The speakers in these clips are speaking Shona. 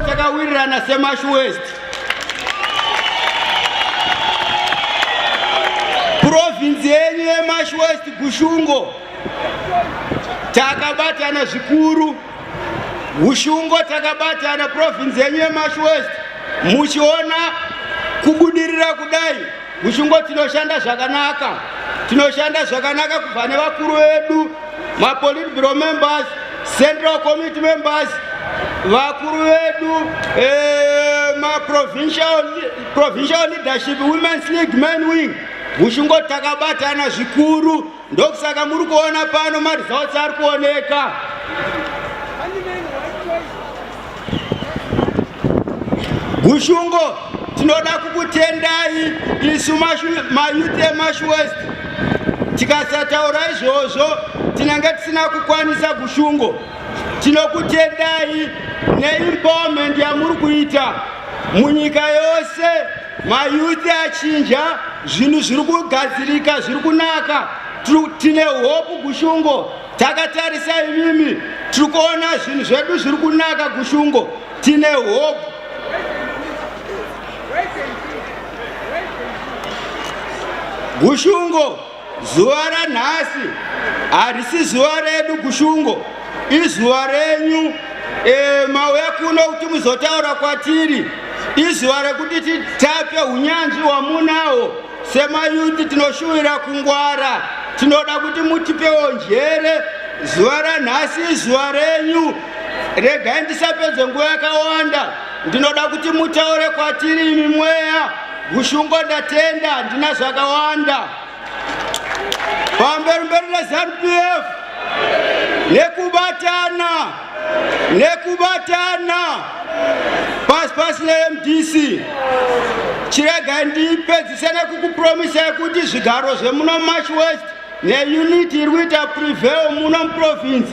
takawirirana semash west provinzi yenyu yemash west gushungo takabatana zvikuru ushungo takabatana province yenyu yemash west muchiona kubudirira kudai Muchungo tinoshanda zvakanaka, tinoshanda zvakanaka kubva nevakuru vedu, mapolitburo members, central committee members, vakuru vedu eh, maprovincial provincial leadership women's league men wing muchungo takabatana zvikuru ndokusaka muri kuona pano maresults ari kuoneka gushungo tinoda kukutendai isu mayuti emashwest tikasataura izvozvo tinenge tisina kukwanisa gushungo tinokutendai neempowerment yamuri kuita munyika yose mayuthi achinja zvinhu zviri kugadzirika zviri kunaka tine hopu gushungo takatarisa imimi tiri kuona zvinhu zvedu zviri kunaka gushungo tine hopu gushungo Zuva ranhasi harisi zuva redu kushungo, izuva renyu. E, mauya kuno kuti muzotaura kwatiri, izuva rekuti titape unyanzvi wamunawo semayuti. Tinoshuvira kungwara, tinoda kuti mutipewo njere. Zuva ranhasi izuva renyu, regai ndisapedze nguva yakawanda. Ndinoda kuti mutaure kwatiri imi mweya Gushungo ndatenda handina zvakawanda pamberi mberi neZanu PF nekubatana nekubatana pasi pasi neMDC chirega ndipedzise nekukupromisai kuti zvigaro zvemuno March West neunit iri kuita prevail muno muprovince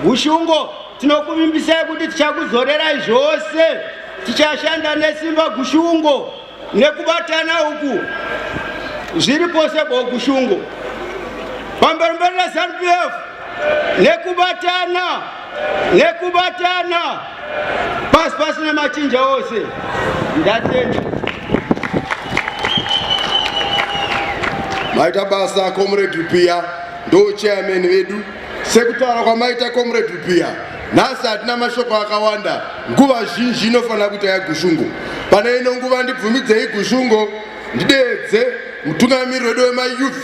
Gushungo Tinokuvimbisai kuti tichakuzorerai zvose, tichashanda nesimba gushungo nekubatana uku zviri pose ko gushungo pamberi mberi reZanu PF nekubatana nekubatana pasi pasi nemachinja ose ndatenda maita basa comrade Rupiya ndo chairman vedu Sekutaura kwamaita Comrade Rupiya, nhasi hatina mashoko akawanda. Nguva zhinji inofanira kuita yaGushungo. Pane ino nguva ndibvumidzei Gushungo ndideedze mutungamiri wedu wemayouth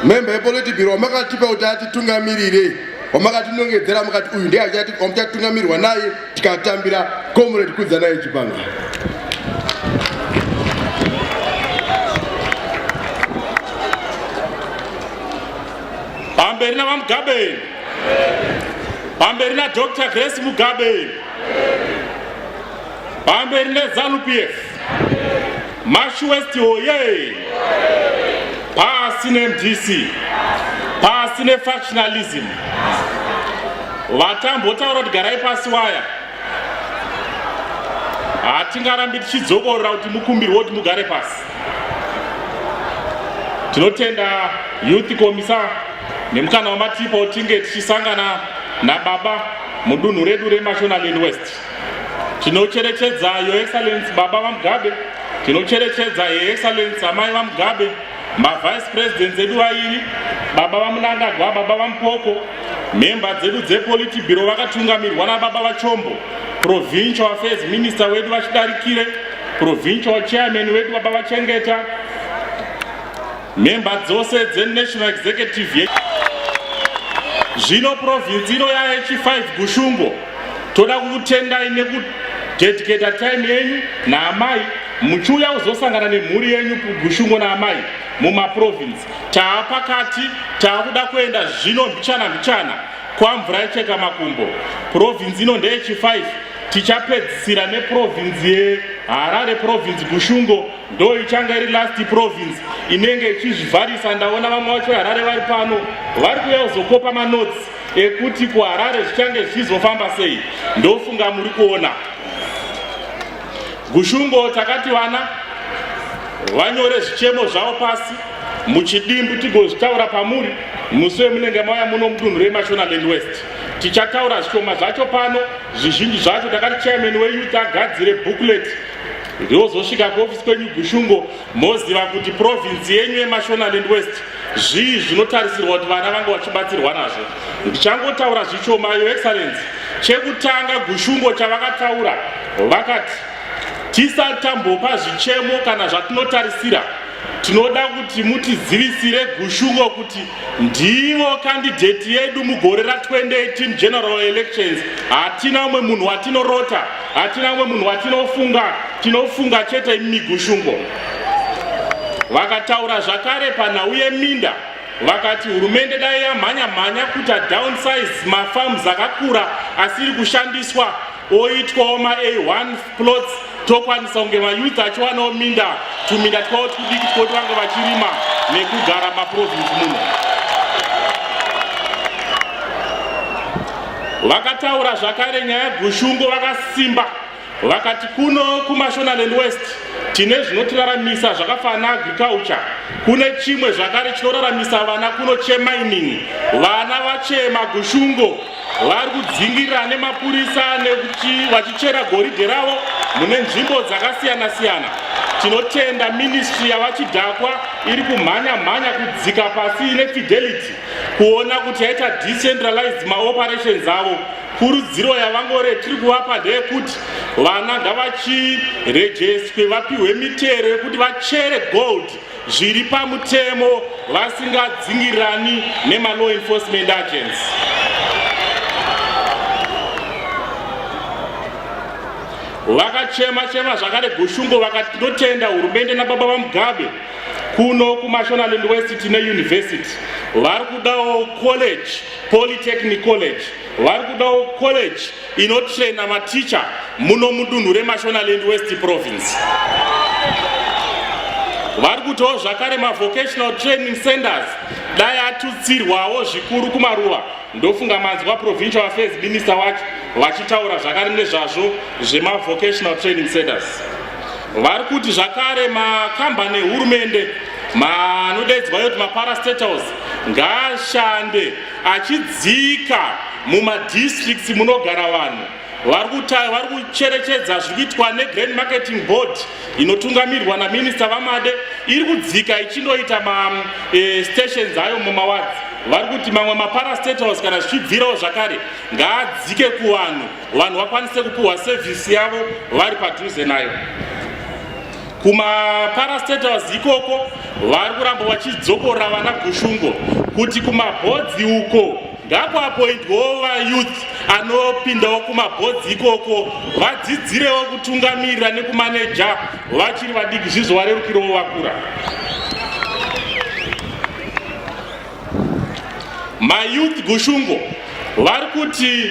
member yepolitibiro wamakatipa kuti atitungamirire wamakatinongedzera mukati uyu ndiye wamuchatungamirwa naye tikatambira comrade kudzanai chipanga pamberi navamugabe pamberi nadr grace mugabe pamberi nezanupf mash west hoye pasi nemdc pasi nefactionalism vatambotaura kuti garai pasi waya hatingarambi tichidzokorora kuti mukumbirwe kuti mugare pasi Tinotenda youth komisa nemukana wamatipo tinge tichisangana nababa mudunhu redu reMashonaland West. Tinocherechedza Your Excellency Baba VaMugabe, tinocherechedza Her Excellency Amai VaMugabe, maVice Presidents edu vairi, Baba VaMunangagwa, Baba VaMupoko, mhemba dzedu dzepoliti bhiro vakatungamirwa nababa vachombo provincial affairs minister wedu vachidarikire provincial chairman wedu baba vachengeta mhemba dzose dzenational executive ye zvino province ino yaye chi5 gushungo toda kukutendai nekudedicata time yenyu naamai muchiuya kuzosangana nemhuri yenyu gushungo naamai mumaprovince taa pakati taakuda kuenda zvino mbichana mbichana kwamvura yecheka makumbo province ino ndeyechi5 tichapedzisira neprovinzi yeharare provinzi kushungo ndo ichanga iri last provinzi inenge ichizvivharisa ndaona vamwe vacho veharare vari pano vari kuuya kuzokopa manotsi ekuti kuharare zvichange zvichizofamba sei ndofunga muri kuona gushungo takati vana vanyore zvichemo zvavo pasi muchidimbu tigozvitaura pamuri musi wemunenge mauya muno mudunhu remashonalend west Tichataura zvishoma zvacho pano, zvizhinji zvacho takati chairman weyouth agadzire booklet riozosvika kuofisi kwenyu Gushungo moziva kuti province yenyu yeMashonaland West zvii zvinotarisirwa kuti vana vange vachibatsirwa nazvo. Ndichangotaura zvishoma, Your Excellency. Chekutanga Gushungo chavakataura vakati tisatambopa zvichemo kana zvatinotarisira Tinoda kuti mutizivisire Gushungo kuti ndivo kandidheti yedu mugore ra 2018 general elections. Hatina umwe munhu watinorota, hatina umwe munhu watinofunga, tinofunga chete imi Gushungo. Vakataura zvakare panhau yeminda vakati hurumende dai yamhanya mhanya kuita downsize mafarms akakura asiri kushandiswa oitwawo ma-a1 plots tokwanisa kunge mayouth achiwanawo minda tuminda twavo twudiki twoti vange vachirima nekugara maprovince muno vakataura zvakare nyaya gushungo vakasimba vakati kuno kumashonaland west tine zvinotiraramisa zvakafanana agriculture kune chimwe zvakare chinoraramisa vana kuno chemining vana vachema gushungo vari kudzingirira nemapurisa vachichera goridhe ravo mune nzvimbo dzakasiyana siyana tinotenda ministry yavachidhakwa iri kumhanya mhanya kudzika pasi nefidelity kuona kuti yaita decentralized maoperations avo kurudziro yavangore tiri kuvapa ndeyekuti vana ngavachirejestwe vapiwe mitero yekuti vachere gold zviri pamutemo vasingadzingirani nemalaw enforcement agents vakachema chema zvakare gushungo vakati ndotenda hurumende nababa vamugabe kuno kumashonaland west tine university vari kudawo college polytechnic college vari kudawo college inotrena maticha muno mudunhu remashonaland west province vari kutiwo zvakare mavocational training centers dai atutsirwawo zvikuru kumaruva ndofunga manzwa provincial affairs minister wacho vachitaura zvakare nezvazvo zvemavocational training centers vari kuti zvakare makambani ehurumende manodaidzwa yoti maparastatals ngaashande Achidzika mumadistricts munogara vanhu vari kucherechedza zviri kuitwa negrand marketing board inotungamirwa naminista vamade iri kudzika ichindoita mastations eh, ayo mumawadzi vari kuti mamwe maparastatals kana zvichibvirawo zvakare ngaadzike kuvanhu vanhu vakwanise kupiwa sevhisi yavo vari padhuze nayo kumaparastatals ikoko vari kuramba vachidzokorora vana gushungo kuti kumabhodzi uko ngakuapoindwawo vayouth anopindawo kumabhodzi ikoko vadzidzirewo kutungamirira nekumaneja vachiri vadiki zvizvo varerukirewo vakura mayouth gushungo vari kuti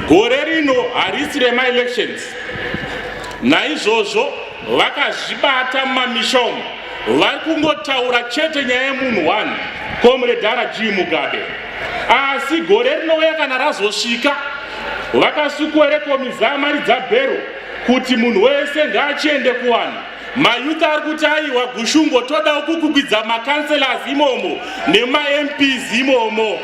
gore rino harisi remaelections naizvozvo vakazvibata mumamisha umu vari kungotaura chete nyaya yemunhu one komredara g mugabe asi gore rinouya kana razosvika vakasukwerekomizaa mari dzabhero kuti munhu wese ngaachiende kuwanhu Mayouth ari kuti aiwa Gushungo todawo kukukwidza macancelors imomo nemaMPs imomo.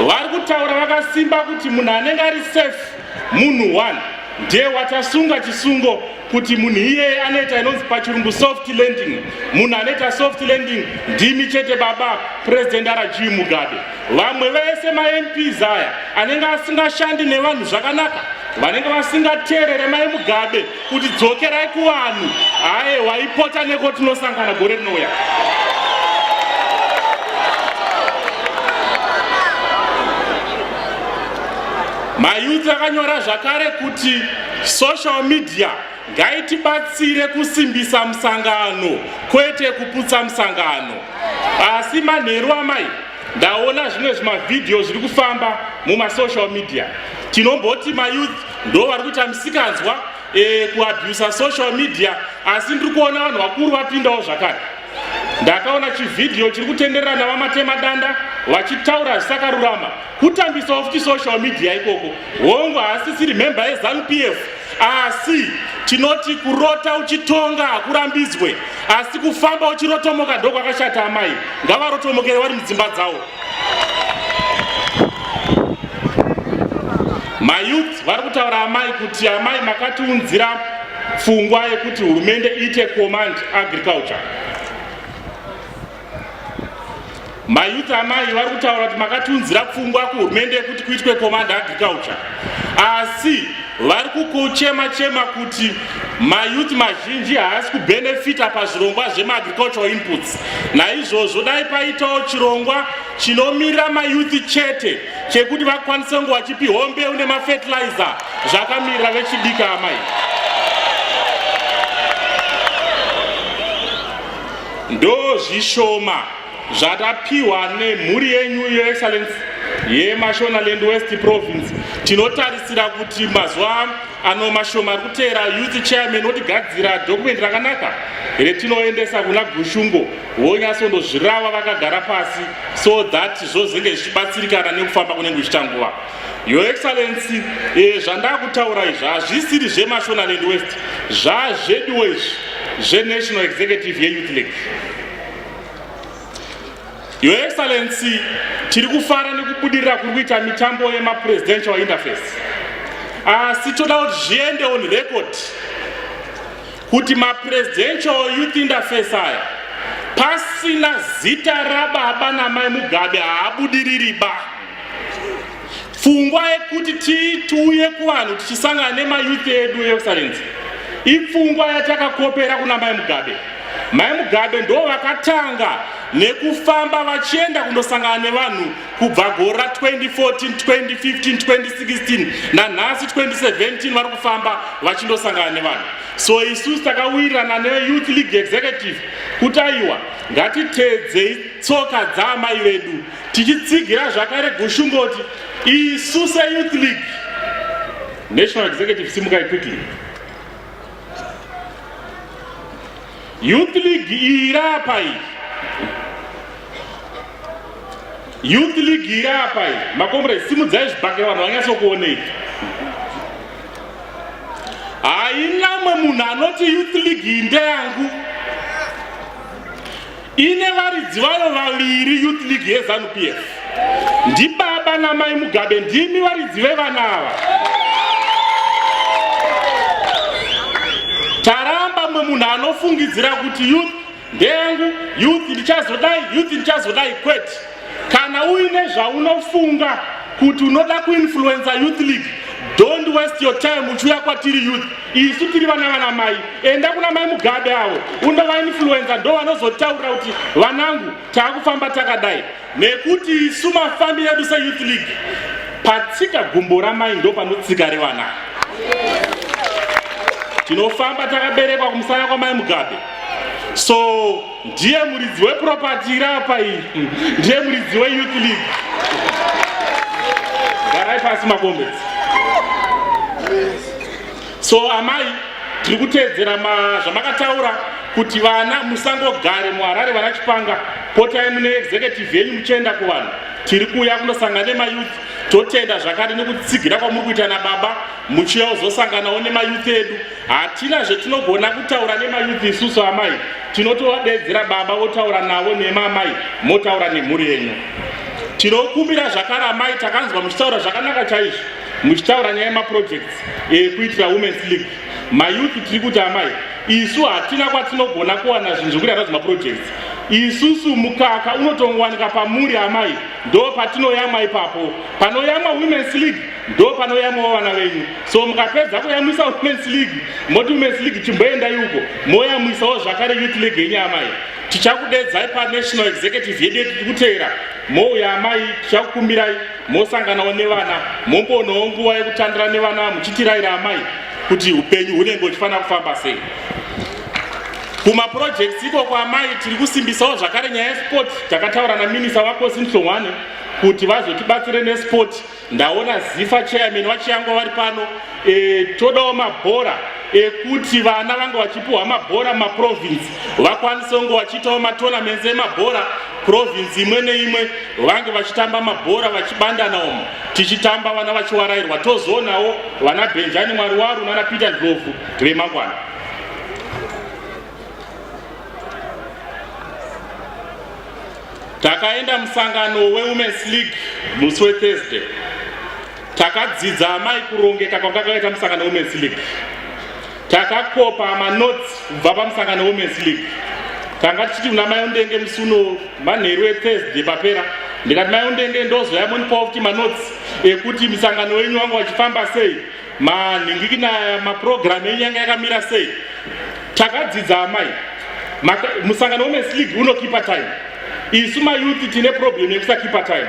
Vari kutaura vakasimba kuti munhu anenge ari safe munhu one ndiye watasunga chisungo kuti munhu iyeye anoita inonzi pachirungu soft landing munhu anoita soft landing ndimi chete baba president arajimugabe Vamwe vese maMPs aya anenge asingashandi nevanhu zvakanaka vanenge vasingateerere mai Mugabe kuti dzokerai kuvanhu aye waipota neko tinosangana gore rinouya. Mayuti akanyora zvakare kuti social media ngaitibatsire kusimbisa musangano kwete kuputsa musangano asi manheru amai ndaona zvimwe zvimavhidhiyo zviri kufamba mumasocial media tinomboti mayouth ndo vari kuita misikanzwa e, kuabusa social media asi ndiri kuona vanhu vakuru vapindawo zvakare ndakaona chivhidhiyo chiri kutenderera navamatema danda vachitaura zvisakarurama kutambisawo futi social media ikoko hongu haasisiri mhemba yezanu p f Asi tinoti kurota uchitonga hakurambidzwe, asi kufamba uchirotomoka ndokwakashata. Amai ngavarotomokere vari mudzimba dzavo. Mayouth vari kutaura amai kuti amai makatiunzira pfungwa yekuti hurumende iite command agriculture mayuti amai vari kutaura kuti makatiunzira pfungwa kuhurumende yekuti kuitwe command agriculture asi vari kukuchema chema kuti mayuti mazhinji haasi kubhenefita pazvirongwa zvemaagricultural inputs naizvozvo dai paitawo chirongwa chinomirira mayuti chete chekuti vakwanise kunge vachipiwa mbeu nemafertilizer zvakamirira vechidika amai Ndozvishoma zvatapiwa nemhuri yenyu your excellence yemashonaland west province tinotarisira kuti mazuva ano mashoma ari kuteera youth chairman otigadzira dokumenti rakanaka retinoendesa kuna gushungo vonyasondozvirava vakagara pasi so that zvozenge zvichibatsirikana nekufamba kunenge zvichita nguva Your Excellency, eh, zvandakutaura izvi hazvisiri zveMashonaland West, zvazveduwo izvi zveNational Executive yeYouth League. Your Excellency, tiri kufara nekubudirira kuri kuita mitambo yemapresidential interface, asi toda kuti zviende on record kuti mapresidential youth interface aya pasina zita rababa namai Mugabe haabudiriri ba Pfungwa yekuti tiuye kuvanhu tichisangana nemayouth edu excellency ipfungwa yatakakopera kuna mai Mugabe. Mai Mugabe ndo vakatanga nekufamba vachienda kundosangana nevanhu kubva gore ra 2014 2015 2016 nanhasi 2017 vari kufamba vachindosangana nevanhu so isusu takawirirana neyouth league executive kuti aiwa ngatiteedzei tsoka dzaamai vedu tichitsigira zvakare gushungoti isu seyouth league national executive simukai quickly youth league iyi irapa iyi youth league iri apa iyi makomrade simudzai zvibhakira vanhu vanyatsokuonei haina mwe munhu anoti youth league iyi ndeyangu ine varidzi vayo vaviri youth league yezanu p f ndibaba namai mugabe ndimi varidzi vevana ava taramba mwe munhu anofungidzira kuti youth ndeyangu youth ndichazodai youth ndichazodai kwete Kana uine zvaunofunga kuti unoda kuinfluenza youth league don't waste your time uchiuya kwatiri youth isu tiri vana vana mai enda kuna mai mugabe avo undovainfluenza ndo vanozotaurira kuti vanangu taakufamba takadai nekuti isu mafambi yedu seyouth league patsika gumbo ramai ndo panotsika revana tinofamba takaberekwa kumusana kwamai mugabe so ndiye muridzi weproperty iri apa iyi ndiye muridzi weyouth league garai pasi makombesi so amai tiri kuteedzera zvamakataura kuti vana musangogare muharare vana chipanga potai mune executive yenyu muchienda kuvanhu tiri kuuya kunosangana nemayouth totenda zvakare nekutsigira kwamuri kuita nababa muchiuya kuzosanganawo nemayouth edu Hatina zvetinogona kutaura nemayuth isusu amai, tinotovadeedzera baba votaura navo nemi amai motaura nemhuri yenyu. Tinokumbira zvakare amai, takanzwa muchitaura zvakanaka chaizvo, muchitaura nyaya yemaprojects ekuitira eh, Women's League. Mayuth tiri kuti amai, isu hatina kwatinogona kuwana zvinhu zvekuita nadzo maprojects. Isusu mukaka unotongowanika pamuri amai, ndo patinoyamwa ipapo. Panoyamwa Women's League ndo panoyamwawo vana venyu so mukapedza kuyamwisa womens league moti womens league chimboendai uko moyamwisawo zvakare youth league yenyu amai tichakudedzai panational executive yedu yeti tikutevera mouya amai tichakukumbirai mosanganawo nevana momboonawo nguva yekutandira nevana muchitiraira amai kuti upenyu hunenge huchifanira kufamba sei kumaprojects ikoko amai tiri kusimbisawo zvakare nyaya yesport takataura naminisa vakosi nhlongwane kuti vazotibatsire nesport Ndaona Zifa chairman vaChiyangwa vari pano e, todawo mabhora ekuti vana vange vachipiwa mabhora mumaprovince vakwanise kunge vachiitawo matournaments emabhora province imwe neimwe vange vachitamba mabhora vachibandana umo tichitamba vana vachiwarairwa tozoonawo vana benjani mwari waro nana peter ndlovu vemangwana Takaenda musangano weWomen's League musi weThursday. Takadzidza amai kurongeka kwanga kwakaita musangano weWomen's League. Takakopa manotes kubva pamusangano weWomen's League. Tanga tichiti kuna mai Undenge musi uno manheru eThursday papera ndikati mai Undenge ndozoya monipawo kuti manotes ekuti musangano wenyu wanga wachifamba sei manhingikina mapurogiramu enyu yanga yakamira sei takadzidza amai musangano womens league unokipa time isu mayouth tine problem yekusakipa time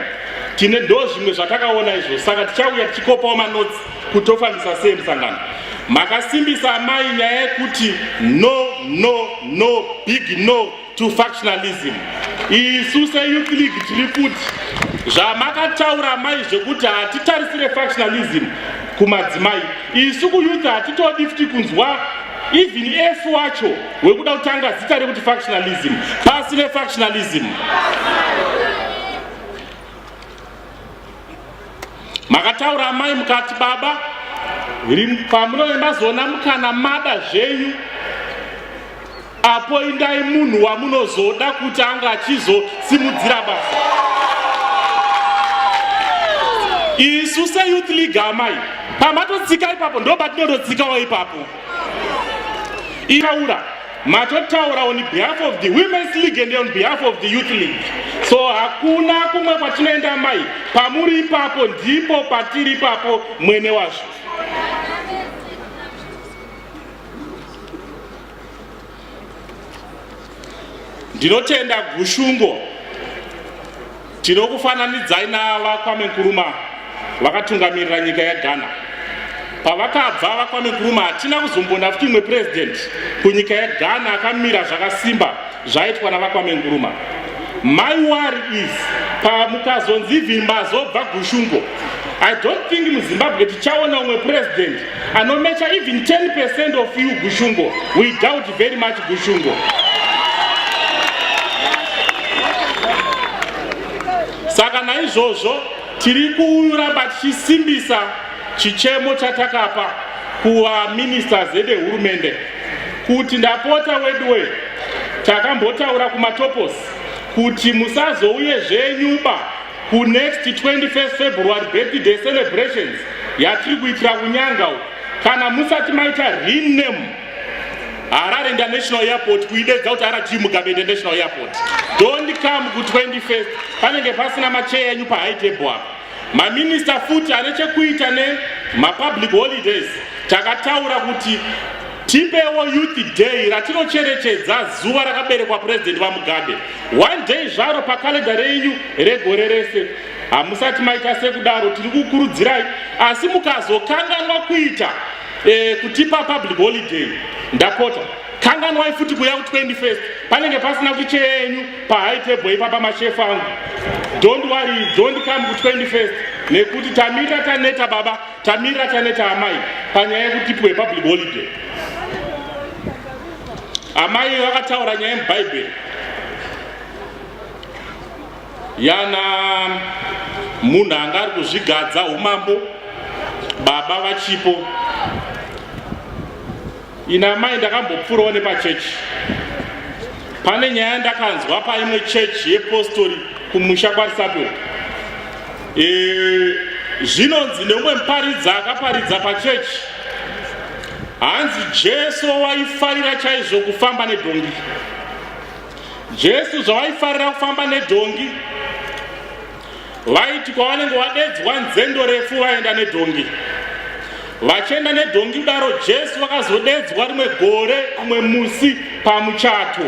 tine ndo zvimwe zvatakaona izvo saka tichauya tichikopawo manotsi kuti tofambisa sei musangano makasimbisa amai nyaya yekuti no no no big no to factionalism isu seyouth league tiri kuti zvamakataura mai zvekuti hatitarisire factionalism kumadzimai isu kuyouth hatitodi futi kunzwa even f wacho wekuda kutanga zita rekuti factionalism pasi nefactionalism makataura amai mukati baba pamunoenda zona mukana mada zvenyu apo indai munhu wamunozoda kuti ange achizosimudzira basa isu seyouth league amai pamatotsika ipapo ndo patinototsikawo ipapo itaura matotaura on behalf of the women's league and on behalf of the youth league so hakuna kumwe kwatinoenda mai pamuri ipapo ndipo patiri ipapo mwene wazvo ndinotenda gushungo Tinokufananidzai naava Kwame Nkuruma vakatungamirira nyika yeGhana. Pavakabva vaKwame Nkuruma hatina kuzombona futi imwe president kunyika yeGhana akamira zvakasimba zvaitwa navaKwame Nkuruma. My worry is pamukazonzi vimba zobva gushungo. I don't think muZimbabwe tichaona umwe president anomecha even 10% of you gushungo we doubt very much gushungo saka naizvozvo tiri kuramba tichisimbisa chichemo chatakapa kuvaministers edehurumende kuti ndapota weduwe takambotaura kumatoposi kuti musazouye zvenyuba kunext 21 february birthday celebrations yatiri kuitira kunyanga uku kana musati maita rename harare international airport kuidedza kuti rg mugabe international airport don't come ku21 panenge pasina macheya enyu pahigh table apa maminista futi ane chekuita nemapublic holidays takataura kuti Tipewo Youth Day ratinocherechedza zuva rakaberekwa President VaMugabe. One day zvaro pakalenda renyu regore rese. Hamusati maita sekudaro tiri kukurudzirai asi mukazokanganwa kuita eh, kutipa public holiday ndapota kanganwai futi kuya ku 21st panenge pasina kuti chenyu pa high table ipapa mashefu angu don't worry don't come ku 21st nekuti tamira taneta baba Tamira taneta amai panyaya yekuti tipiwe public holiday. Amai vakataura nyaya yemubhaibheri yana munhu anga ari kuzvigadza umambo baba vachipo Ini amai ndakambopfuurawo nepachechi. Pane nyaya ndakanzwa paimwe chechi yepostori kumusha kwaRisapo. E, eh, zvinonzi neumwe muparidza akaparidza pachechi hanzi Jesu waifarira chaizvo kufamba nedhongi. Jesu zvawaifarira kufamba nedhongi vaiti kwavanenge vadedzwa nzendo refu vaenda nedhongi vachienda nedhongi kudaro jesu vakazodedzwa rimwe gore umwe musi pamuchato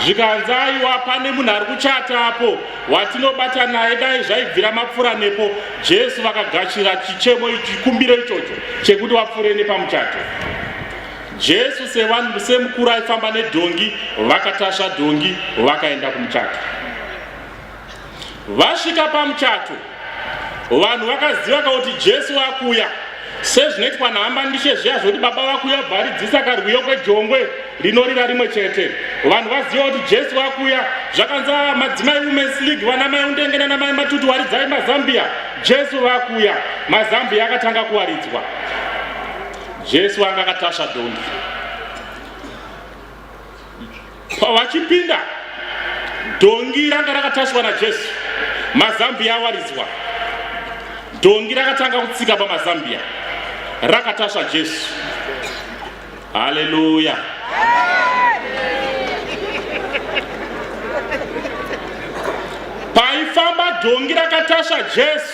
zvikanzi aiwa pane munhu ari kuchata apo watinobata naye dai zvaibvira mapfura nepo jesu vakagashira chichemo chikumbiro ichocho chekuti vapfure nepamuchato jesu sevanhu semukuru aifamba nedhongi vakatasva dhongi vakaenda kumuchato Vasvika pamuchato, vanhu vakaziva kuti Jesu wakuya sezvinoitwa nahamba ndishe zviya zvoti baba vakuya bvaridzisa karwiyo kwejongwe rinorira rimwe chete vanhu vaziva kuti jesu vakuya zvakanza madzimai womens league vana mai undenge nana mai matutu waridzai mazambia jesu vakuya mazambia akatanga kuwaridzwa jesu anga akatasva dhongi Pavachipinda, dhongi ranga rakatasvwa naJesu, mazambiya awaridzwa. Dhongi rakatanga kutsika pamazambiya, rakatasva Jesu. Haleluya! Paifamba dhongi rakatasva Jesu,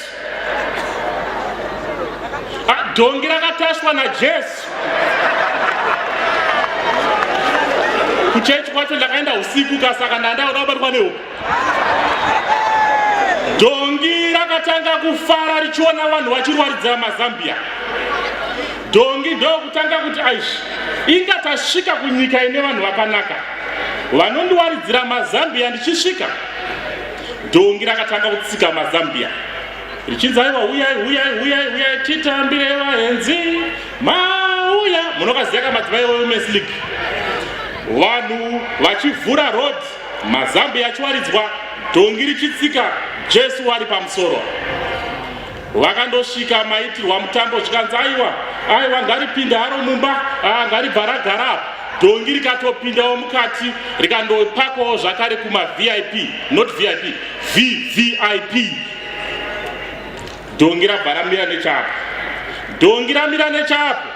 Ah, dhongi rakataswa najesu kuchechi kwacho ndakaenda usiku kasaka ndandaoda kubatwa nehuku dhongi rakatanga kufara richiona vanhu vachirwaridzira mazambia dhongi ndokutanga kuti aishi inga tasvika kunyika ine vanhu vakanaka vanondiwaridzira mazambia ndichisvika Dhongi rakatanga kutsika mazambia richinzi aiwa huyai huyai huyai huyai titambire vaenzi mauya munokaziya ka madzimai wewomen's league vanhu vachivhura road mazambia achiwaridzwa dhongi richitsika jesu wari pamusoro vakandosvika maitirwa mutambo zvikanzi aiwa aiwa ngaripinde haro mumba ah, ngaribva ragara apa dhongi rikatopindawo mukati rikandopakwawo zvakare kumavip not vip vvip dhongi rabva ramira nechapo dhongi ramira nechapo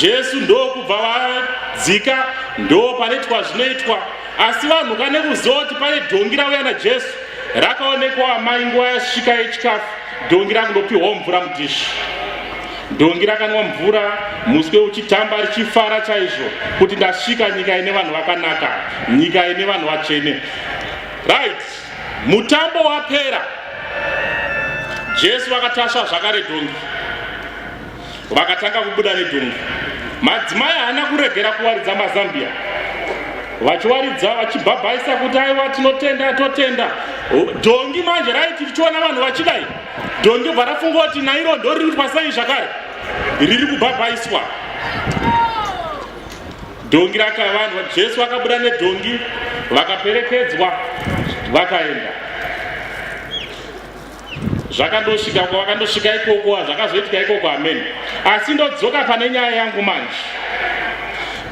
jesu ndokubva vadzika ndo panoitwa zvinoitwa asi vanhu kane kuziva kuti pane dhongi rauya najesu Rakaonekwa amai nguva yasvika yechikafu dhongi rakundopihwawo mvura mudhishi. Dhongi rakanwa mvura muswe uchitamba richifara chaizvo kuti ndasvika nyika ine vanhu vakanaka, nyika ine vanhu vatsvene. Right, mutambo wapera. Jesu vakatasva zvakare dhongi. vakatanga kubuda nedhungu madzimai haana kuregera kuwaridza mazambia vachiwaridza vachibhabhaisa kuti aiwa tinotenda totenda dhongi manje raiti tichiona vanhu vachidai dhongi bva rafunga kuti nairo ndo riri kuitwa sei zvakare riri kubhabhaiswa dhongi rakavanhu jesu vakabuda nedhongi vakaperekedzwa vakaenda zvakandosvika uko vakandosvika ikoko zvakazoitika ikoko ameni asi ndodzoka pane nyaya yangu manje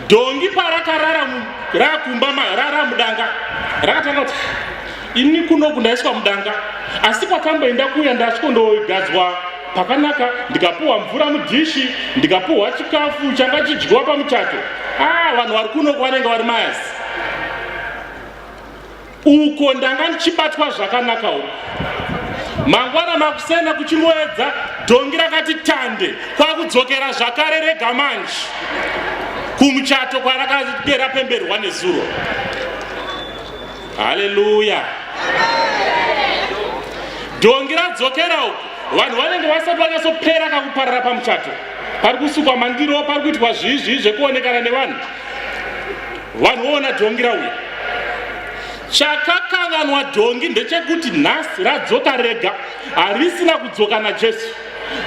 dhongi parakarara rakumba rara mudanga rakatanga kuti ini kuno kundaiswa mudanga asi kwakamboenda kuya ndasvikondogadzwa pakanaka ndikapuhwa mvura mudhishi ndikapuhwa chikafu changa chidyiwa pamuchato a ah, vanhu vari kuno kwavanenge vari mayazi uko ndanga ndichibatwa zvakanaka uko mangwana makusena kuchimoedza dhongi rakati tande kwakudzokera zvakare rega manje kumuchato kwarakade rapemberwa nezuro haleluya dhongi radzokera uko vanhu vanenge vasati vanyatsopera kakuparara pamuchato pari kusukwa mandiro pari kuitwa zvii zvii zvekuonekana nevanhu vanoona dhongi rauya chakakanganwa dhongi ndechekuti nhasi radzoka rega harisina kudzoka najesu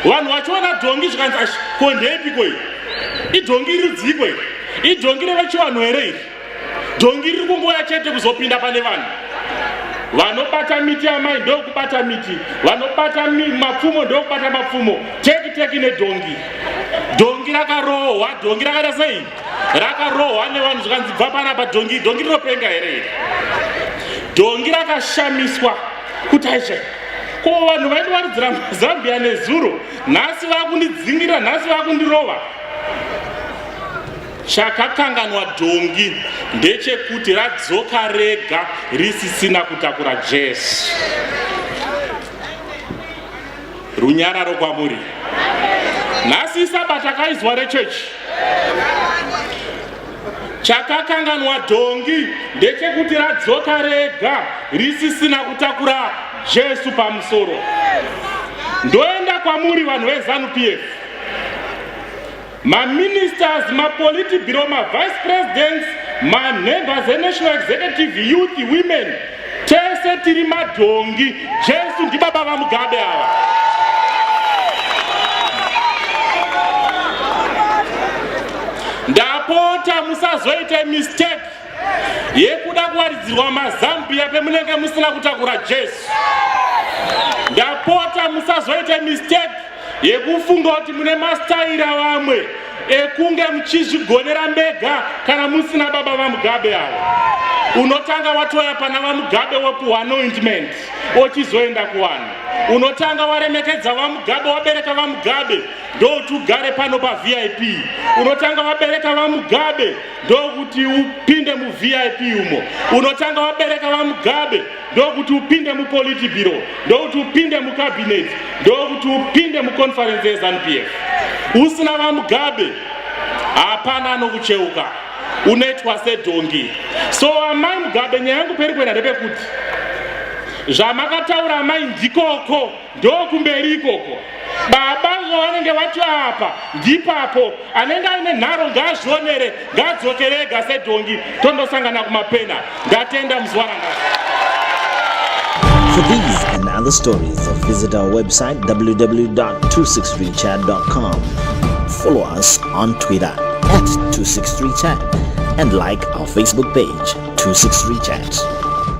vanhu vachiona dhongi zvikanzi ashi ko ndeyepiko iyi idhongi iri dziko iri idhongi revechivanhu here iri dhongi riri kungoya chete kuzopinda pane vanhu vanobata miti amai ndokubata miti vanobata mapfumo ndokubata mapfumo teki teki nedhongi dhongi rakarohwa dhongi rakaita sei rakarohwa nevanhu zvikanzi bva panapa dhongi dhongi rinopenga here iri dhongi rakashamiswa kuti aisha ko vanhu vaindiwaridzira mazambia nezuro nhasi vakundidzingira nhasi vakundirova chakakanganwa dhongi ndechekuti radzoka rega risisina kutakura jesu Runyararo kwamuri. Nhasi sabata kaizwa rechechi chakakanganwa dhongi ndechekuti radzoka rega risisina kutakura jesu pamusoro ndoenda kwamuri vanhu vezanu pf maministers mapolity bureau mavice presidents manhembers enational executive youth women tese tiri madhongi jesu ndibaba vamugabe ava ndapota musazoita mistake yekuda kuwaridzirwa mazambiya pemunenge musina kutakura jesu ndapota musazoita mistake yekufunga kuti mune mastaira vamwe ekunge muchizvigonera mbega kana musina baba vamugabe avo unotanga watoya pana vamugabe wekuhwa anointment ochizoenda kuvanhu unotanga waremekedza vamugabe wabereka vamugabe ndokuti ugare pano pavip unotanga wabereka vamugabe ndokuti upinde muvip umo unotanga wabereka vamugabe ndokuti upinde mupoliti biro ndokuti upinde mucabinet ndokuti upinde muconference yezanup f usina vamugabe hapana anokucheuka unoitwa sedhongi so amai mugabe nyaya yangu peri kuenda ndepekuti zvamakataura amai ndikoko ndokumberi ikoko baba vanenge vati apa ndipapo anenge aine nharo ngaazvionere ngaadzokerega sedhongi tondosangana kumapena ndatenda muzuva ranga For these and other stories, visit our website www.263chat.com. Follow us on Twitter at 263chat and like our Facebook page 263chat.